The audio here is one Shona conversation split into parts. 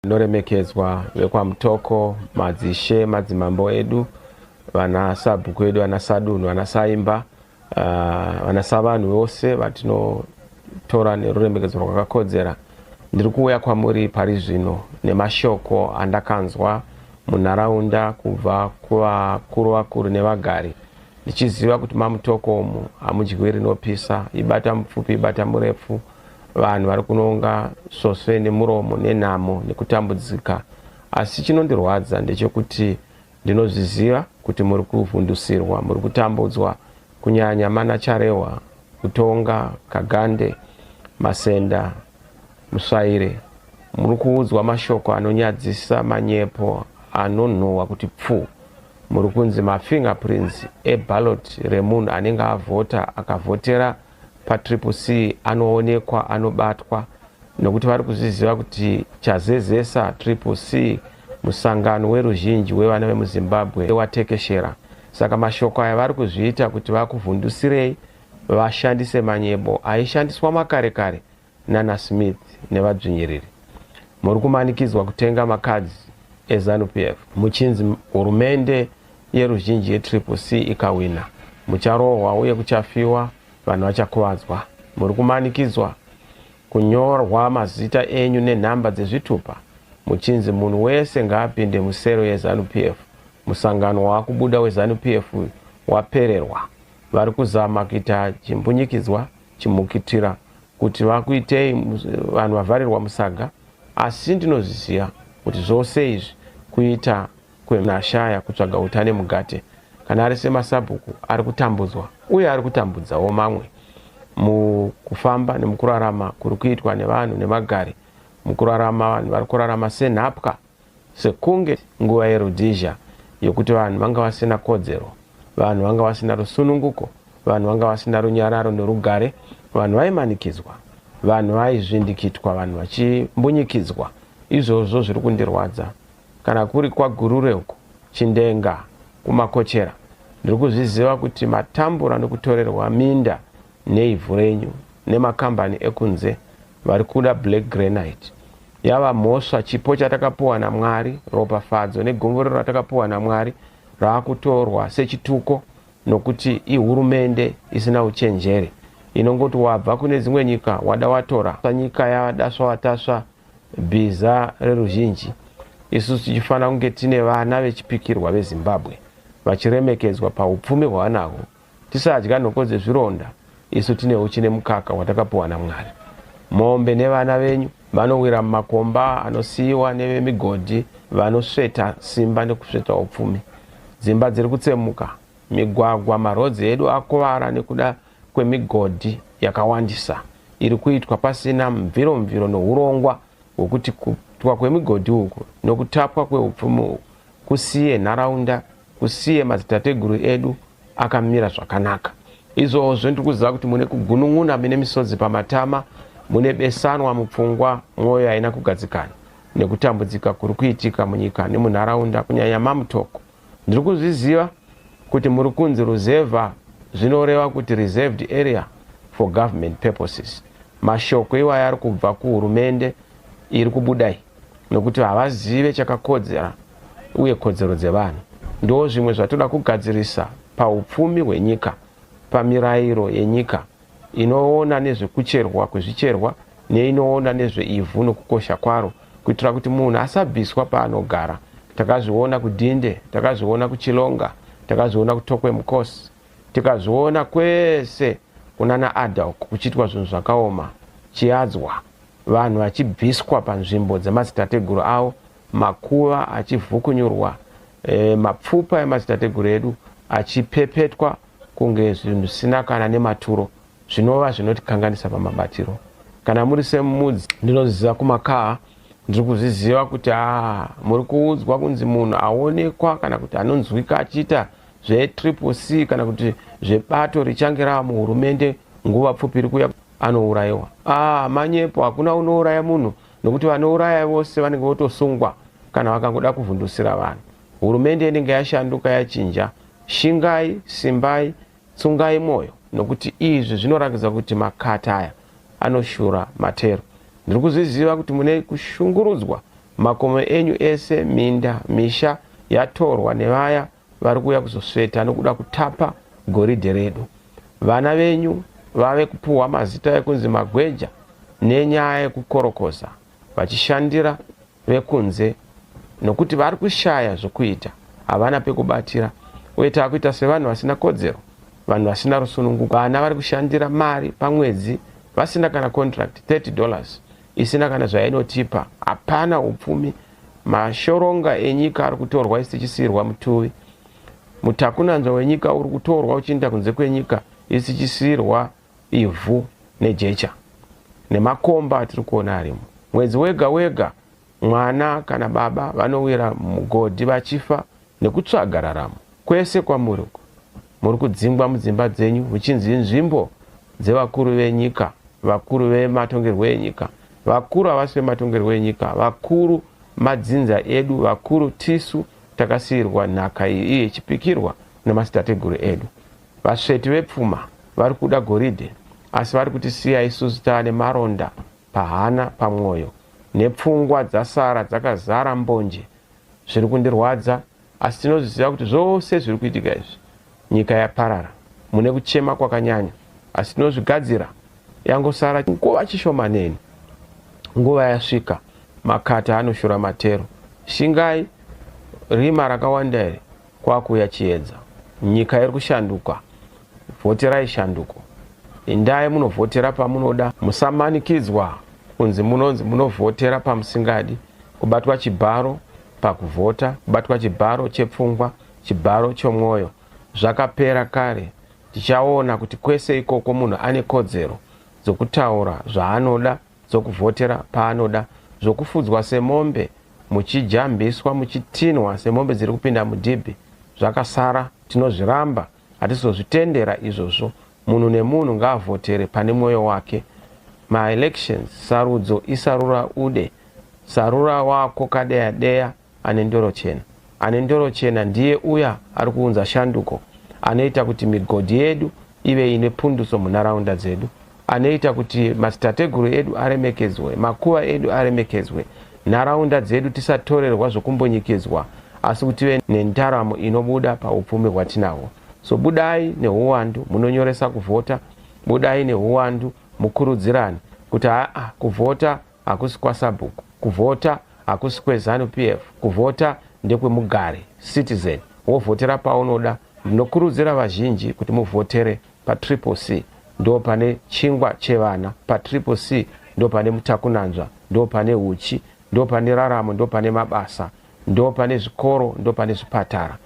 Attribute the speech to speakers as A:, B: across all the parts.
A: Tinoremekedzwa vekwaMutoko, madzishe, madzimambo edu, vana sabhuku edu, vana sadunhu, vana saimba, ah, vana savanhu vose vatinotora neruremekedzo rwakakodzera. Ndiri kuuya kwamuri pari zvino nemashoko andakanzwa munharaunda kubva kuvakuru vakuru nevagari ndichiziva kuti maMutoko umu hamudyiwi rinopisa, ibata mupfupi ibata murefu. Vanhu vari kunonga svosve nemuromo nenhamo nekutambudzika, asi chinondirwadza ndechekuti ndinozviziva kuti muri kuvhundusirwa, muri kutambudzwa, kunyanya mana Charehwa, Utonga, Kagande, Masenda, Musvaire. Muri kuudzwa mashoko anonyadzisa, manyepo anonhuhwa kuti pfuu. Muri kunzi mafingerprints eballot remunhu anenge avhota, akavhotera patriple C anoonekwa anobatwa nokuti vari kuzviziva kuti chazezesa triple C musangano weruzhinji wevana vemuzimbabwe watekeshera saka mashoko aya vari kuzviita kuti vakuvhundusirei vashandise manyebo aishandiswa makare kare nana Smith nevadzvinyiriri muri kumanikidzwa kutenga makadzi eZanu PF muchinzi hurumende yeruzhinji yetriple C ikawina mucharohwa uye kuchafiwa vanhu vachakuvadzwa muri kumanikidzwa kunyorwa mazita enyu nenhamba dzezvitupa muchinzi munhu wese ngaapinde musero yeZanu PF musangano waakubuda weZanu PF uyu wapererwa vari kuzama kuita chimbunyikidzwa chimukitira kuti vakuitei vanhu vavharirwa musaga asi ndinozviziva kuti zvose izvi kuita kwenashaya kutsvaga uta nemugate kana ari semasabhuku ari kutambudzwa uye ari kutambudzawo mamwe mukufamba nemukurarama kuri kuitwa nevanhu nemagari mukurarama vanhu vari kurarama senhapwa Sekunge nguva yeRhodesia yokuti vanhu vanga vasina kodzero, vanhu vanga vasina rusununguko, vanhu vanga vasina runyararo norugare, vanhu vaimanikidzwa, vanhu vaizvindikitwa, vanhu vachimbunyikidzwa. Izvozvo zviri kundirwadza. Kana kuri kwaGurure uko, Chindenga, kuMakochera, ndiri kuzviziva kuti matambura nokutorerwa minda, neivhu renyu nemakambani ekunze vari kuda black granite yava mhosva chipo chatakapuwa namwari ropafadzo negomborero ratakapuwa namwari raakutorwa sechituko nokuti ihurumende isina uchenjeri inongoti wabva kune dzimwe nyika wada watora sanyika yadaswa watasva bhiza reruzhinji isusu tichifanira kunge tine vana vechipikirwa vezimbabwe vachiremekedzwa paupfumi hwavanahwo Tisadya nhoko dzezvironda, isu tine huchi nemukaka watakapiwa naMwari. Mombe nevana venyu vanowira mumakomba anosiyiwa nevemigodhi vanosveta simba nekusveta upfumi. Dzimba dziri kutsemuka, migwagwa, marodzi edu akuvara nekuda kwemigodhi yakawandisa iri kuitwa pasina mviro-mviro nohurongwa hwokuti kuitwa kwemigodhi uku nokutapwa kweupfumi uku kusiye nharaunda usiye madzitateguru edu akamira zvakanaka izvozvo ndiri kuziva kuti mune kugunun'una mine misodzi pamatama mune besanwa mupfungwa mwoyo haina kugadzikana nekutambudzika kuri kuitika munyika nemunharaunda kunyanya mamutoko ndiri kuzviziva kuti muri kunzi ruzevha zvinoreva kuti reserved area for government purposes mashoko iwayo ari kubva kuhurumende iri kubuda iyi nokuti havazive chakakodzera uye kodzero dzevanhu ndo zvimwe zvatoda kugadzirisa paupfumi hwenyika pamirairo yenyika inoona nezvekucherwa kwezvicherwa neinoona nezveivhu nokukosha kwaro kuitira kuti munhu asabviswa paanogara takazviona kudhinde takazviona kuchilonga takazviona kutokwe mukosi tikazviona kwese kunana adalk kuchiitwa zvinhu zvakaoma chiadzwa vanhu vachibviswa panzvimbo dzemadzitateguru avo, makuva achivhukunyurwa, e, mapfupa emadzitateguru edu achipepetwa kunge zvinhu zvisina kana nematuro zvinova zvinotikanganisa pamabatiro kana muri semudzi ndinoziva kumakaa ndiri kuzviziva kuti a ah, muri kuudzwa kunzi munhu aonekwa kana kuti anonzwika achiita zvetriple c kana kuti zvebato richange rava muhurumende nguva pfupi iri kuya anourayiwa ah manyepo hakuna unouraya munhu nokuti vanouraya vose vanenge votosungwa kana vakangoda kuvhundusira vanhu hurumende inenge yashanduka yachinja shingai simbai tsungai mwoyo nokuti izvi zvinorakidza kuti makata aya anoshura matero ndiri kuzviziva kuti mune kushungurudzwa makomo enyu ese minda misha yatorwa nevaya vari kuuya kuzosveta nokuda kutapa goridhe redu. Vana venyu vave kupuhwa mazita ekunzi magweja nenyaya yekukorokoza vachishandira vekunze nokuti vari kushaya zvokuita, havana pekubatira uye tava kuita sevanhu vasina kodzero, vanhu vasina rusununguko. Vana vari kushandira mari pamwedzi vasina kana contract, 30 dollars isina kana zvainotipa. Hapana upfumi. Mashoronga enyika ari kutorwa isu tichisiirwa mutuvi. Mutakunanzva wenyika uri kutorwa uchiinda kunze kwenyika isu tichisiirwa ivhu nejecha nemakomba atiri kuona arimo. Mwedzi wega wega mwana kana baba vanowira mugodhi vachifa Nekutsvaga raramo kwese kwamuri uku, muri kudzingwa mudzimba dzenyu muchinzi inzvimbo dzevakuru venyika, vakuru vematongerwo enyika, vakuru havasi vematongerwo enyika, vakuru madzinza edu, vakuru tisu takasiirwa nhaka iyi iye ichipikirwa nemadzitateguru edu. Vasveti vepfuma vari kuda goridhe asi vari kutisiya isusu taane maronda pahana, pamwoyo nepfungwa dzasara dzakazara mbonje zviri kundirwadza asi tinozviziva kuti zvose zviri kuitika izvi nyika yaparara mune kuchema kwakanyanya asi tinozvigadzira yangosara nguva chishomaneni nguva yasvika makata anoshura matero shingai rima rakawanda here Kwakuuya chiedza. Nyika iri kushanduka. Vhoterai shanduko. Indai munovhotera pamunoda. Musamanikidzwa kunzi munonzi munovhotera pamusingadi. Kubatwa chibharo pakuvhota, kubatwa chibharo chepfungwa, chibharo chomwoyo zvakapera kare. Tichaona kuti kwese ikoko munhu ane kodzero dzokutaura zvaanoda. dzokuvhotera paanoda zvokufudzwa semombe muchijambiswa muchitinhwa semombe dziri kupinda mudhibhi zvakasara tinozviramba hatizozvitendera izvozvo munhu nemunhu ngaavhotere pane mwoyo wake maelections sarudzo isarura ude sarura wako kadeya deya Ane ndoro chena. Ane ndoro chena ndiye uya ari kuunza shanduko, anoita kuti migodhi yedu ive ine punduso munharaunda dzedu, anoita kuti madzitateguru edu aremekedzwe, makuva edu aremekedzwe, nharaunda dzedu tisatorerwa zvokumbunyikidzwa, asi kuti tive nendaramo inobuda paupfumi hwatinahwo. So budai nehuwandu munonyoresa kuvhota, budai nehuwandu mukurudzirane kuti haa kuvhota hakusi kwasabhuku kuvhota hakusi kwezanu PF kuvhota ndekwemugari citizen wovhotera paunoda ndinokurudzira vazhinji kuti muvhotere patriple C ndopane chingwa chevana patriple C ndopane mutakunanzva ndopane huchi ndopane raramo ndopane mabasa ndopane zvikoro ndopane zvipatara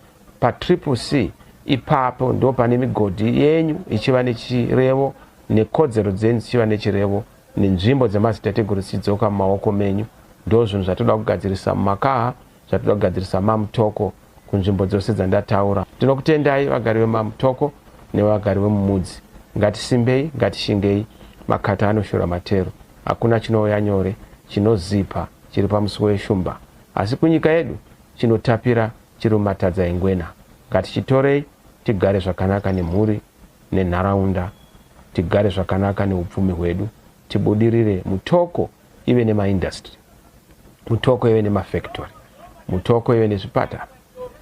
A: patriple C ipapo ndopane migodhi yenyu ichiva nechirevo nekodzero dzenyu dzichiva nechirevo nenzvimbo dzemadzitateguru dzichidzoka mumaoko menyu. Ndozvinhu zvatoda kugadzirisa mumakaha, zvatoda kugadzirisa maMutoko kunzvimbo dzose dzandataura. Tinokutendai vagari vemaMutoko nevagari vemumudzi. Ngatisimbei, ngatishingei, makata anoshura matero. Hakuna chinouya nyore, chinozipa, chiri pamusuwo weshumba. Asi kunyika yedu, chinotapira chiri mumatadza engwena. Ngatichitorei, tigare zvakanaka nemhuri. nenharaunda tigare zvakanaka neupfumi hwedu tibudirire mutoko ive nemaindustry mutoko ive nemafactory mutoko ive nezvipatara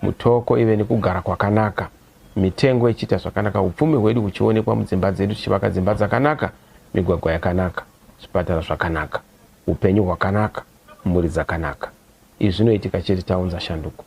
A: mutoko ive nekugara kwakanaka mitengo ichiita zvakanaka upfumi hwedu huchionekwa mudzimba dzedu tichivaka dzimba dzakanaka migwagwa yakanaka zvipatara zvakanaka upenyu hwakanaka mhuri dzakanaka izvi zvinoitika chete taunza shanduko